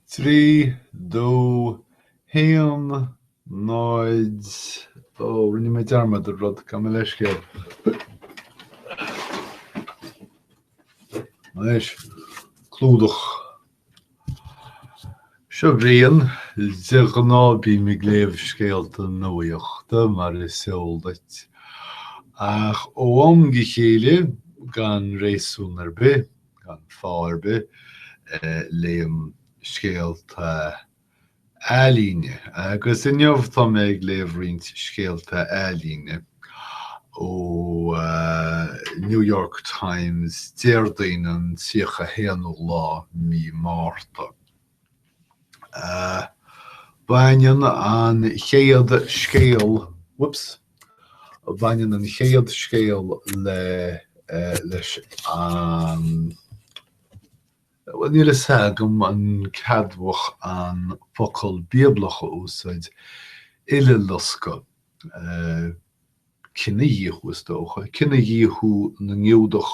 3, 2, 1, 0, Ó, rinne mé dearmad ar rud, gabh mo leithscéal. Anois, clúdach. Seo Brian, de ghnáth bím ag léamh scéalta nuachta mar is eol duit, ach ó am go chéile, gan réasún ar bith, gan fáth ar bith. léim scéalta ealaíne agus inniu tá mé ag léamh roinnt scéalta ealaíne ó New York Times Déardaoin an 31ú lá mí Márta. Baineann an chéad scéal, whoops, baineann an chéad scéal le, leis an, bhuel níl a fhios agam an ceadmhach an focal bíoblach a úsáid, uileloscadh, cinedhíothú is dócha, cinedhíothú na nGiúdach.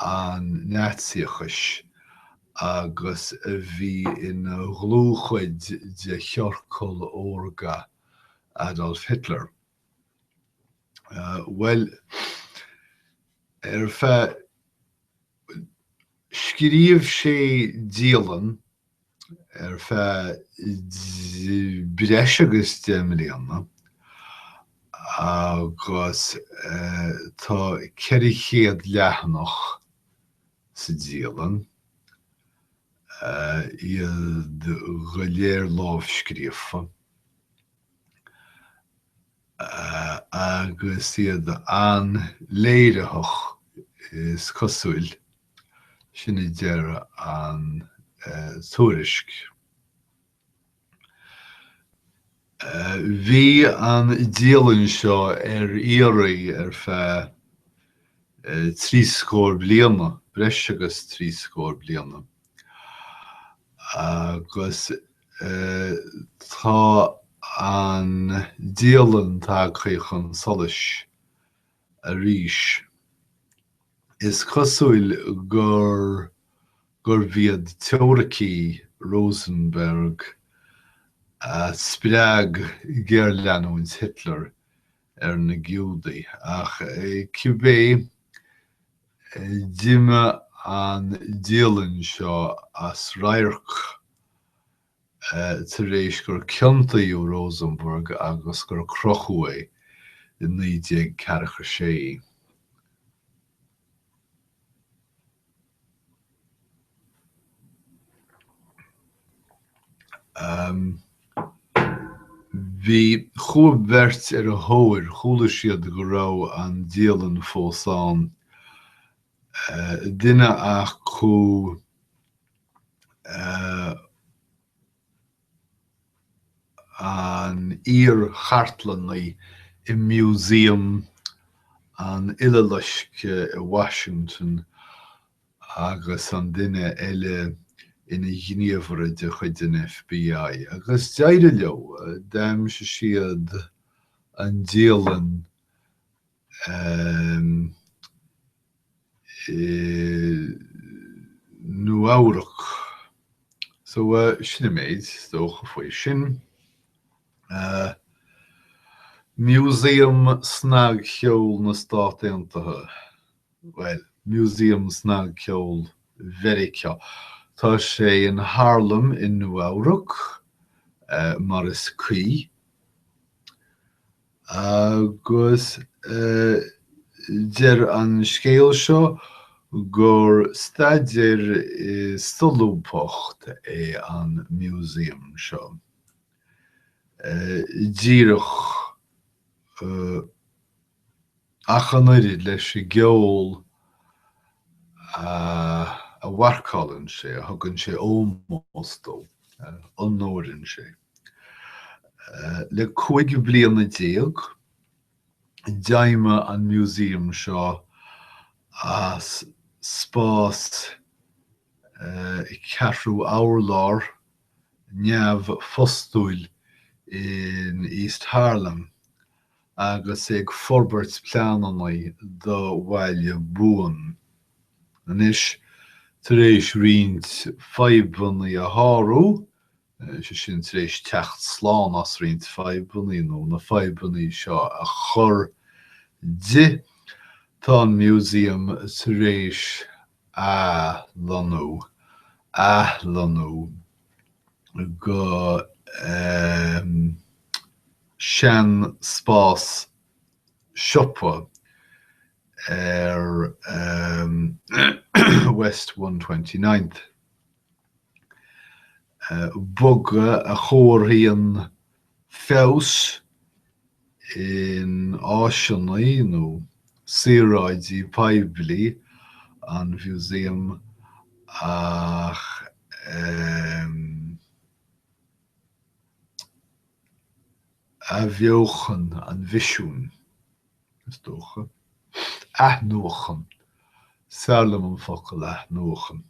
an Naitsíochais agus a bhí ina dhlúthchuid de chiorcal órga Adolf Hitler. Bhuel, ar feadh. Scríobh sé dialann ar feadh breis agus deich mbliana agus tá 400 leathanach sa dialann, iad go léir lámhscríofa, agus iad an-léiritheach, is cosúil. Sin a deir an tuairisc. Bhí an dialann seo ar iarraidh ar feadh trí scór bliana, breis agus trí scór bliana, agus tá an dialann tagtha chun solais arís. Is cosúil gur gurbh iad teoiricí Rosenberg a spreag géarleanúint Hitler ar na Giúdaigh, ach cibé, d'imigh an dialann seo as radharc tar éis gur ciontaíodh Rosenberg agus gur crochadh é i 1946. Bhí chuaigh beirt ar a thóir, chuala siad go raibh an dialann fós ann duine acu an iar-chartlannaí i Museum an Uileloiscthe i Washington agus an duine eile ina ghníomhaire de chuid an FBI, agus d'éirigh leo, d'aimsigh siad an dialann i Nua-Eabhrac. So, sin an méid is dócha faoi sin. Museum Snagcheoil na Stát Aontaithe, bhuel, Museum Snagcheoil Mheiriceá. Tá sé in Harlem i Nua-Eabhrac, mar is cuí. agus deir an scéal seo gur staidéar i solúbthacht é an museum seo, díreach ach an oiread leis an gceol a mharcálann sé, a thugann sé ómós dó, a onóraíonn sé. Le cúig bliana déag, d'fheidhmigh an Museum seo as spás ceathrú urlár neamhphostúil in East Harlem agus é ag forbairt pleanannaí do bhaile buan. Anois, tar éis roinnt fadhbannaí a shárú, sé sin, tar éis teacht slán as roinnt fadhbannaí nó na fadhbannaí seo a chur di, tá an Museum tar éis athlonnú, athlonnú go seanspás siopa ar West One Twenty Ninth. bogadh a chomharthaíonn feabhas in áiseanna nó saoráidí poiblí an Museum ach athbheochan an mhisiúin, is dócha. athnuachan, is fearr liom an focal athnuachan.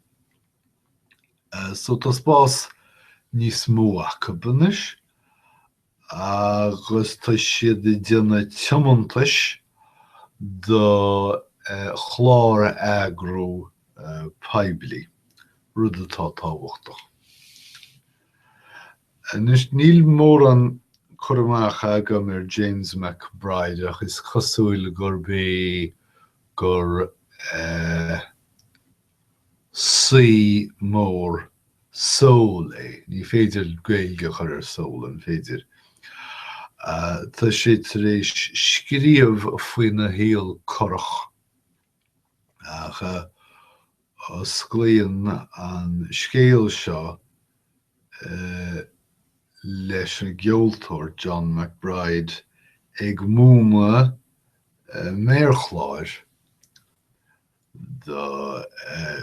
So tá spás níos mó acu anois agus tá siad ag déanamh tiomantais do chlár a eagrú poiblí, rud atá tábhachtach. Anois níl mórán cur amach agam ar James McBride ach is cosúil gurb é gur saoi mór soul é. Ní féidir Gaeilge a chur ar soul, an féidir? Tá sé tar éis scríobh faoina shaol corrach, ach osclaíonn an scéal seo leis an gceoltóir John McBride ag múineadh méarchláir. do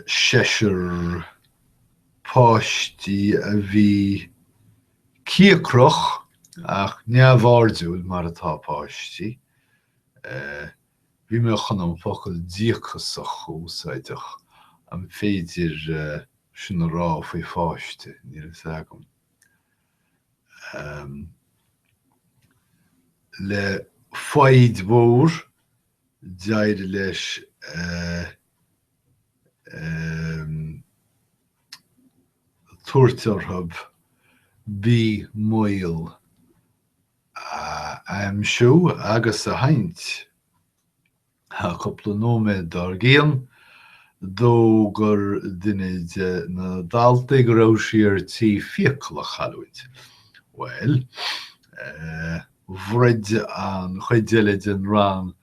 seisear páistí a bhí cíocrach ach neamhairdiúil mar atá páistí, bhí mé chun an focal díocasach a úsáid ach an féidir sin a rá faoi pháiste, níl a fhios agam. le foighid mhór. d'éirigh leis tabhairt orthu B maol a aimsiú agus a sheinnt. Cúpla nóiméad dár gcionn, d'fhógair duine de na daltaí go raibh sí ar tí fiacail a chailliúint. Bhuel. Bhroid an chuid eile den rang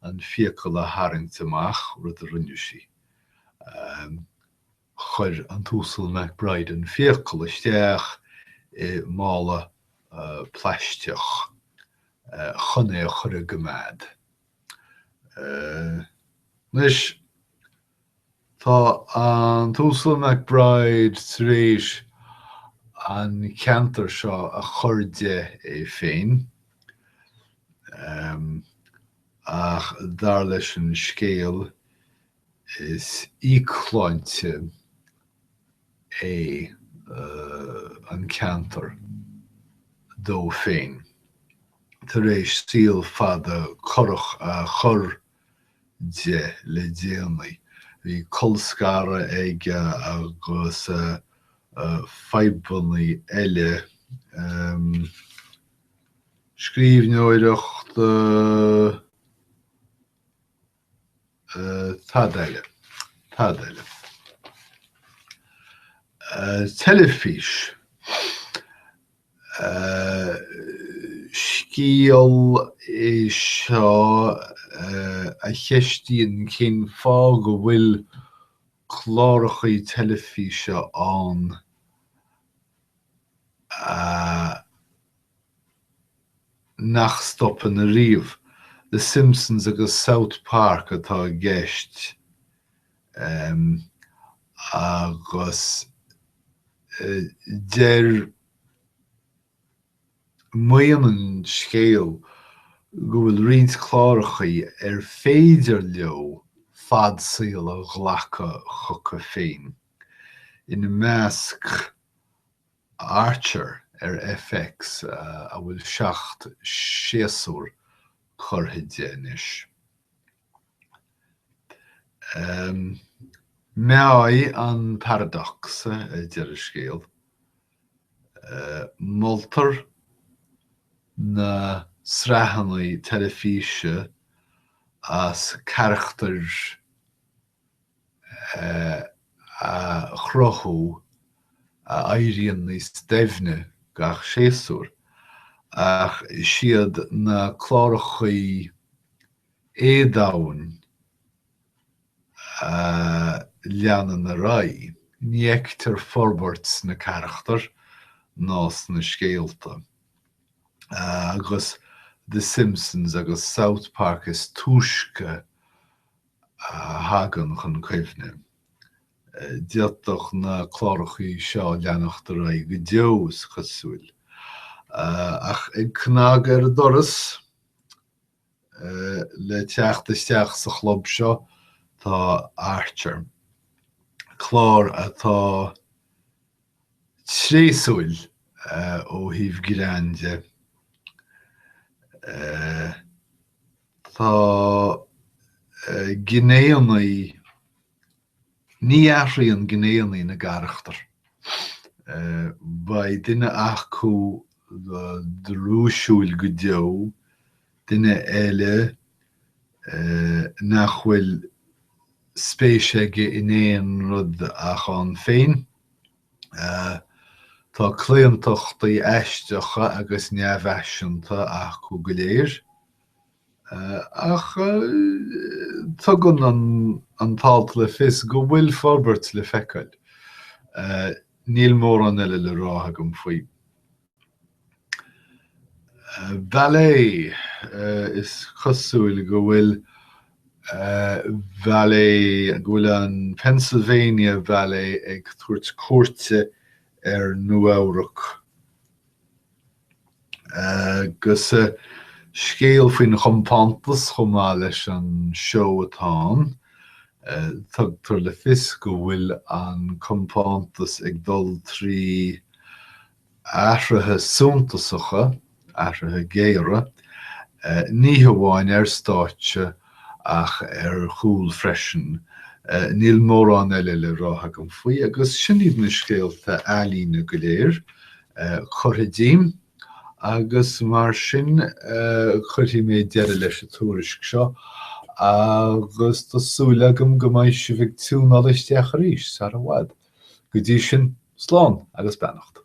an fiacail a tharraingt amach, rud a rinne sí. Chuir an tUasal McBride an fiacail isteach i mála plaisteach chun é a chur i gcoimeád. Anois, tá an tUasal McBride tar éis an ceantar seo a chur de é féin, ach dar leis an scéal, Is íocshláinte é an ceantar dó féin tar éis saol fada corrach a chur de le déanaí. Bhí colscaradh aige agus fadhbanna eile, scríbhneoireacht. Cad eile? Cad eile? Teilifís. Scéal é seo a cheistíonn cén fáth go bhfuil clárachaí teilifíse ann nach stopann ariamh, The Simpsons agus South Park atá i gceist, agus deir, maíonn an scéal go bhfuil roinnt clárachaí ar féidir leo fad saoil a ghlacadh chucu féin, ina measc, Archer ar FX a bhfuil seacht séasúr curtha de anois. Meáigh an paradox a deir an scéal. Moltar na sraitheanna teilifíse as carachtair. a chruthú a éiríonn níos doimhne gach séasúr, ach siad na clárachaí éadoimhne a leanann ar aghaidh. Ní fheictear forbairt sna carachtair ná sna scéalta, agus The Simpsons agus South Park is túisce a thagann chun cuimhne. D'fhéadfadh na clárachaí seo leanacht ar aghaidh go deo, is cosúil, ach ag cnagadh ar an doras. Le teacht isteach sa chlub seo tá Archer, clár atá tréasúil ó thaobh greann de, Tá gnéanna na, ní athraíonn gnéanna na gcarachtar. Beidh duine acu drúisiúil go deo, duine eile nach bhfuil spéis aige in aon rud ach ann féin. Tá claontachtaí aisteacha agus neamhfhaiseanta acu go léir. ach tugann an t-alt le fios go bhfuil forbairt le feiceáil. Níl mórán eile le rá agam faoi. Ballet, is cosúil go bhfuil ballet, go bhfuil an Pennsylvania Ballet ag tabhairt cuairte ar Nua-Eabhrac. Agus scéal faoin chompántas chomh maith leis an seó atá ann. Tugtar le fios go bhfuil an compántas ag dul trí athruithe suntasacha, athruithe géire, ní hamháin ar stáitse ach ar chúl freisin. Níl mórán eile le rá agam faoi, agus sin iad na scéalta ealaíne go léir curtha díom, agus mar sin cuirfidh mé deireadh leis an tuairisc seo, agus tá súil agam go mbeidh sibh ag tiúnáil isteach arís sara bhfad. Go dtí sin, slán agus beannacht.